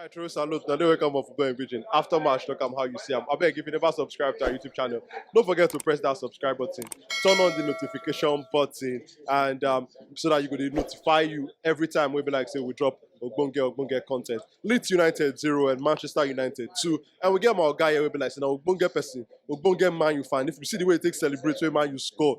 I throw salute. Now they wake up for going pigeon. After match, look am how you see am. I beg if you never subscribe to our YouTube channel, don't forget to press that subscribe button, turn on the notification button, and um, so that you go dey notify you every time we be like say we drop ogbonge ogbonge content. Leeds United zero and Manchester United two, and we get my guy here we be like say na ogbonge person, ogbonge man you fan. If you see the way he take celebrate, wey man you score,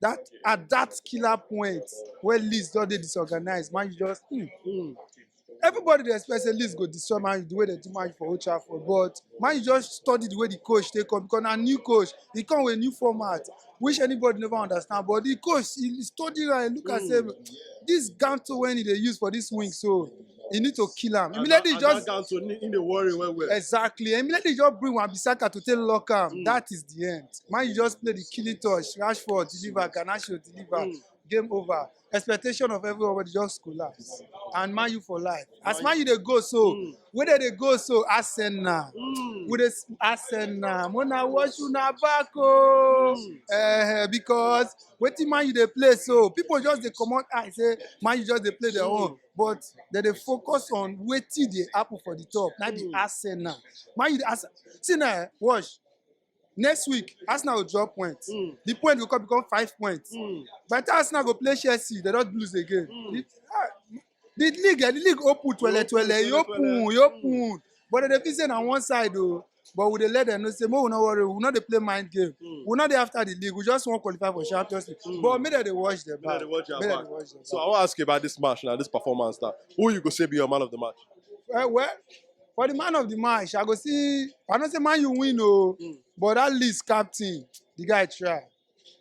that at that killer point where Leeds don dey disorganized, Man U just hmm. Mm. Everybody dey expect say Leeds go destroy Man U the way they do Man U for Old Trafford, but Man U just study the way the coach take come because na new coach, he come with a new format which anybody never understand. But the coach he, he study am, he look am say this Ganto when he dey use for this wing so He need to kill am. Immediately he just down to in the worry well well. Exactly. Immediately he just bring Wan Bissaka to take lock am. Mm. That is the end. Man, you just play the killing touch. Rashford deliver, Garnacho deliver. Mm. Game over. Expectation of everybody just collapse. And man, you for life. As man, you they go so. Mm. Where they, they go so? Arsenal. Mm. Where they Arsenal. Mona wash you na back oh. Mm. Uh, because wetin man you dey play so people just dey comot eye say man you just dey play their mm. own but dem dey focus on wetin dey happen for the top na be arsenal man u dey arsenal see na eh, watch next week arsenal go drop point Mm. the point go come become five points Mm. by the time arsenal go play chelsea they don lose again Mm. the, ah, the league eh, the league open twele twele e open e open but dem dey feel say na one side o But we dey let them know say make we no worry, we no dey play mind game. Mm. We no dey after the league. We just want qualify for Champions League. Mm. But make them dey watch their back. Make them dey watch their back. Dey watch their so back. I want to ask you about this match now, this performance now. Who you go say be your man of the match? Well, eh, well, for the man of the match, I go see. I don't say man you win, oh, mm. but that least captain, the guy try.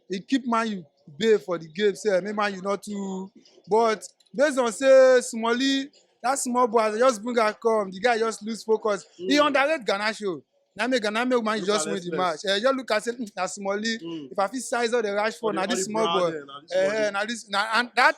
e keep Man U bay for the game sef make Man U no too but based on say Smallie that small boy as I just bring am come the guy just lose focus he Mm. underrate Garnacho na make Ghana make Man U Look just at win the match Express. eh just look at say "Hmm, na Smallie Mm. if I fit size all the Rashford na this small boy eh na this na and that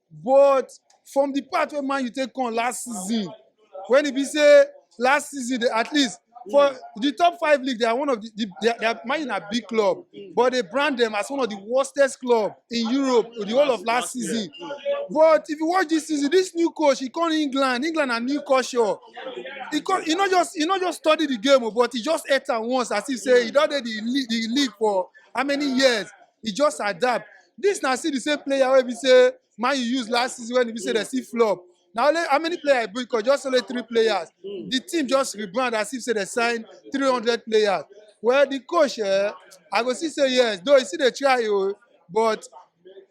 but from the part wey man you take come last season when e be say last season they, at least for mm. the top five league they are one of the, the they are, they are man na big club mm. but they brand them as one of the worstest club in europe the whole of last season yeah. but if you watch this season this new coach he come england england na new culture he come he no just he no just study the game oh, but he just enter once as if say he don dey the league the league for how many years he just adapt This na still the same player wey be say man you use last season when e be say dem still flop. Na only how many players I bring come? Just only three players. Mm. The team just rebrand as if say they sign 300 players. Well, the coach, eh, I go see say yes, though he still dey try, oh, but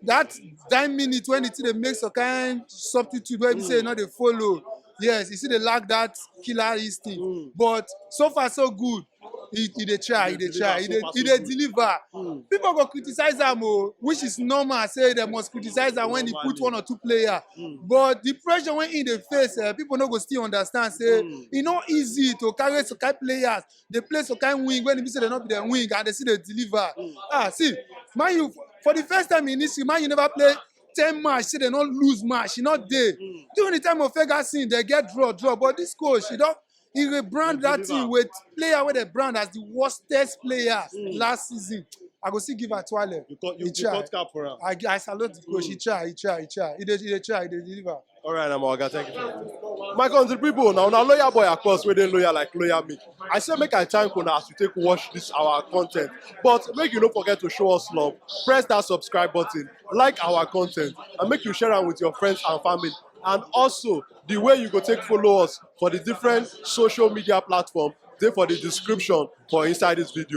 that nine minute when the team dey make some kind substitute wey be say e no dey follow, yes, he still dey lack that killer instinct. Mm. But so far so good. he he dey try he dey try he dey he dey deliver Hmm. people go criticize am o which is normal say dem must criticize am when he put one or two player Hmm. but the pressure wey he dey face eh, people no go still understand say Hmm. e no easy to carry some kind players dey play some kind wing when e be say dem no be dem wing and dey still dey deliver Hmm. ah see man u for the first time in history man u never play ten match say dem no lose match e no dey Hmm. during the time of ferguson dem get draw draw but this coach e don he rebrand that Deliver. thing with player wey dey brand as the worstest player Mm. last season i go still give atuale You cut, you, He you tried. cut cap for him. i i salute the coach he try he try he try he dey he dey try he dey deliver. All right, now, my oga, thank you. My country people, now, now, loyal boy, of course, where they loyal like loyal me. I say make I thank una as you take watch this our content. But make you don't forget to show us love. Press that subscribe button, like our content, and make you share it with your friends and family. And also, The way you go take follow us for the different social media platform dey for the description for inside this video.